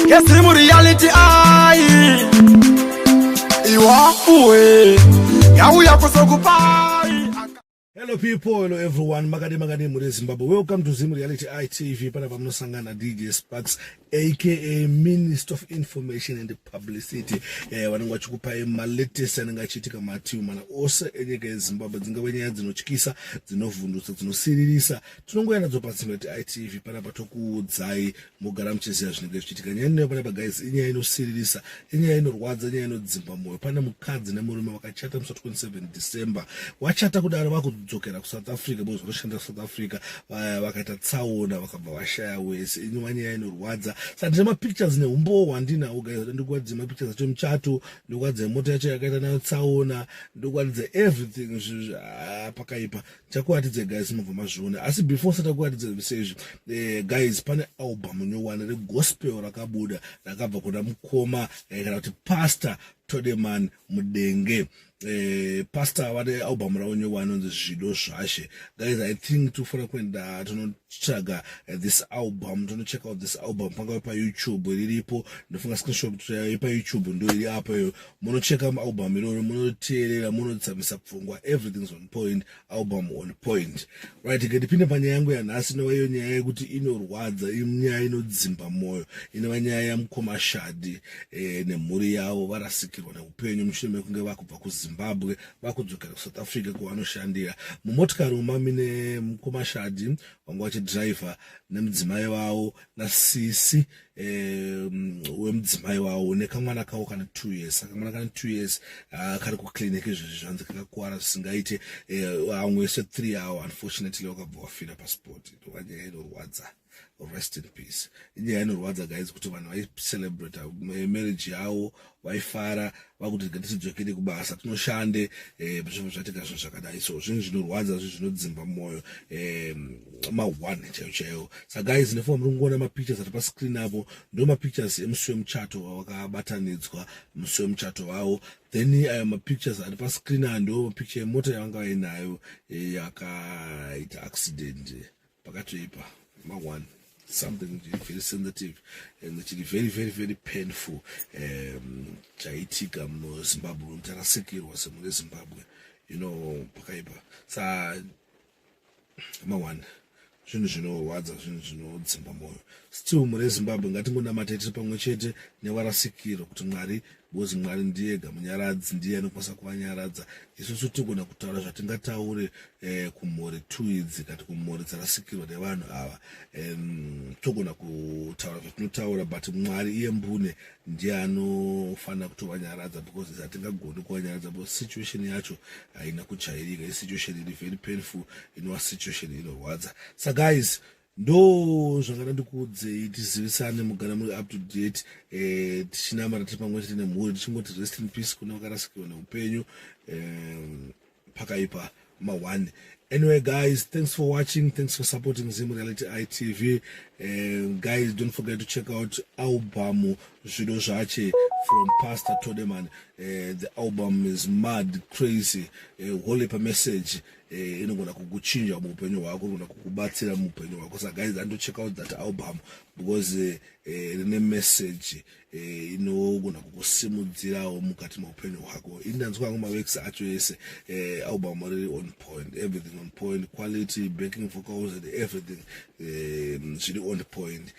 Yes, dream reality ai Iwafuwe Yauya kusokupai Hello people, hello everyone. Makade makade muri Zimbabwe. Welcome to Zim Reality ITV. Pana pamunosangana DJ Sparks aka Minister of Information and Publicity. Eh vanenge vachikupai ma latest anenge achiitika mativi mana ose enyika yeZimbabwe. Dzingave nyaya dzinotyisa, dzinovhundutsa, dzinosiririsa tinongoya nadzo pasi mati itv panapa tokuudzai mogara muchiziva zvinenge zvichiitika nyaya inoyo panapa guys inyaya inosiririsa inyaya inorwadza inyaya inodzimba mwoyo pane mukadzi nemurume vakachata musi 27 december wachata kudaro vakudzokera kusouth africa because vanoshanda kusouth africa vaya vakaita tsaona vakabva vashaya wese inyuma nyaya inorwadza saka ndine mapictures neumbowo hwandinawo guys ndikuratidza mapictures acho muchato ndikuratidza mota yacho yakaita nayo tsaona ndikuratidza everything ah, pakaipa takuratidza guys mubva mazviona asi before satakuratidza zvese izvi eh, guys pane album nyowani regospel rakabuda rakabva kuna mukoma eh, kana kuti pastor todeman mudenge eh, pastor vane album ravo nyowani inonzi zvido zvashe guys i think tofanira kuenda tonotsvaga eh, this album tonocheck out this album pangave payoutube riripo ndofunga screenshot eh, payoutube ndo iri apo iyo munocheka album iroro munoteerera munotsamisa pfungwa everything's on point album on point right ngatipinde panyaya yangu yanhasi inova iyo nyaya yekuti inorwadza inyaya inodzimba mwoyo inova nyaya yamukoma shadi e, nemhuri yavo varasikirwa neupenyu mushure mekunge vakubva kuzimbabwe vakudzokera kusouth africa kwavanoshandira mumotikari umami nemukoma shadi vanga vachidhiraivha nemudzimai vavo nasisi um, wemudzimai wawo nekamwana kawo kana two years akamwana kana two years ah, kari kuclinic izvezvi zvanzi kakakuwara zvisingaite vamwe eh, se three hour unfortunately wakabva wafira pasport ndovanyaya inorwadza rest in peace inyaya inorwadza guys kuti vanhu vaicelebrate eh, marriage yawo vaifara vakuti rega tidzokere kubasa tinoshande eh, zvinhu zvatika zvinhu zvakadai so zvinhu zvinorwadza zvinhu zvinodzimba mwoyo eh, maone chaiyo chaiyo sa guys nefoa muri kungoona mapictures ari pascreen apo ndo mapictures emusi wemuchato wakabatanidzwa musi wemuchato vavo then ayo eh, mapictures ari pascreen aya ndo mapicture yemota yavanga vainayo yakaita accident pakatoipa maone something very sensitive and chiri very very very painful um, chaitika muno zimbabwe munhu tarasikirwa semune zimbabwe you know pakaipa sa maone zvinhu zvinorwadza zvinhu zvinodzimba mwoyo still mune zimbabwe ngatingonamatete pamwe chete nevarasikiro kuti mwari Because Mwari ndiye ega munyaradzi ndiye anokwanisa kuvanyaradza. Isusu tinogona kutaura zvatingataure eh, kumhuri two idzi kati kumhuri dzarasikirwa nevanhu ava um, togona kutaura zvatinotaura but Mwari iye mbune ndiye anofanira kutovanyaradza because hatingagoni kuvanyaradza because situation yacho haina kujairika isituation iri very painful inova situation inorwadza sa guys ndo zvangada ndikuudzei tizivisane mugara muri up to date eh, tichinamata tiri pamwe chete nemhuri tichingoti rest in peace kune vakarasikirwa neupenyu eh, pakaipa mawani anyway guys thanks for watching thanks for supporting zim reality itv and eh, guys don't forget to check out album zvido zvache from pastor todeman uh, the album is mad crazy uh, holy per message eh, inogona kukuchinja muupenyu hwako inogona kukubatsira muupenyu hwako sa guys and to check out that album because eh, eh, rine uh, message uh, inogona kukusimudzirawo mukati meupenyu hwako ini ndanzwa yangu mawex acho ese uh, album riri on point everything on point quality backing vocals and everything zviri um, on point